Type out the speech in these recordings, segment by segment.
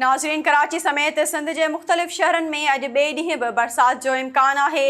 ناظرين ڪراچي سميت سنڌ جي مختلف شهرن ۾ اڄ ٻئي ڏينهن به برسات جو امڪان آهي،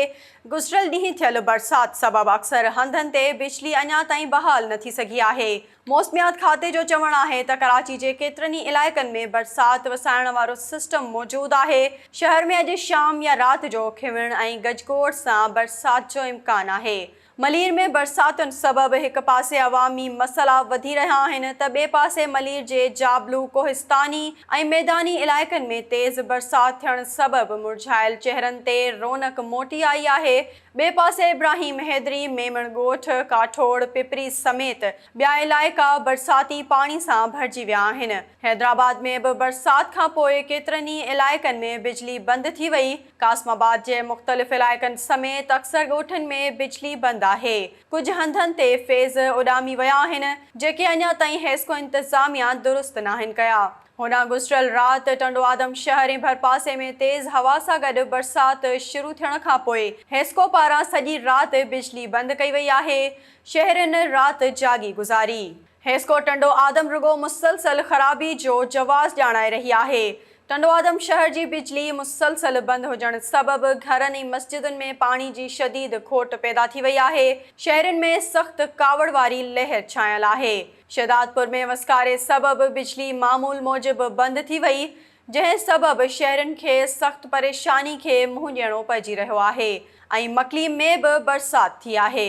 گذريل ڏينهن ٿيل برسات سبب اڪثر هنڌن تي بجلي اڃا تائين بحال نه ٿي سگهي آهي، موسميات کاتي جو چوڻ آهي ته ڪراچي جي ڪيترن ئي علائقن ۾ برسات وسائڻ وارو سسٽم موجود آهي، شهر ۾ اڄ شام يا رات جو کينوڻ ۽ گجگوڙ سان برسات جو امڪان آهي. ملير ۾ برساتن سبب هڪ پاسي عوامي مسئلا وڌي رهيا آهن ته ٻئي پاسي ملير جي جابلو، ڪوهستاني ۽ ميداني علائقن ۾ تيز برسات ٿيڻ سبب مرجهايل چهرن تي رونق موٽي آئي آهي. ٻئي پاسي ابراهيم حيدري، ميمڻ ڳوٺ، ڪاٺوڙ، پپري سميت ٻيا علائقا برساتي پاڻي سان ڀرجي ويا آهن. حيدرآباد ۾ به برسات کانپوء ڪيترن ئي علائقن ۾ بجلي بند ٿي وئي. قاسم آباد جي مختلف علائقن سميت اڪثر ڳوٺن ۾ بجلي بند آهي، ڪجهه هنڌن تي فيز اڏامي ويا آهن، جيڪي اڃا تائين حيسڪو انتظاميا درست ناهن ڪيا. هوڏانهن گذريل رات ٽنڊوآدم شهر ۽ ڀرپاسي ۾ تيز هوا سان گڏ برسات شروع ٿيڻ کانپوء حيسڪو پاران سڄي رات بجلي بند ڪئي وئي آهي، شهرين رات جاڳي گذاري. هيسڪو ٽنڊو آدم رڳو مسلسل خرابي جو جواز ڄاڻائي رهي آهي، ٽنڊوآدم شهر جي بجلي مسلسل بند هجڻ سبب گهرن ۽ مسجدن ۾ پاڻي جي شديد کوٽ پيدا ٿي وئي آهي، شهرين ۾ سخت ڪاوڙ واري لهر ڇانيل آهي، شهدادپور ۾ وسڪاري سبب بجلي معمول موجب بند ٿي وئي، جنهن سبب شهرين کي سخت پريشاني کي منهن ڏيڻو پئجي رهيو آهي ۽ مڪلي ۾ به برسات ٿي آهي.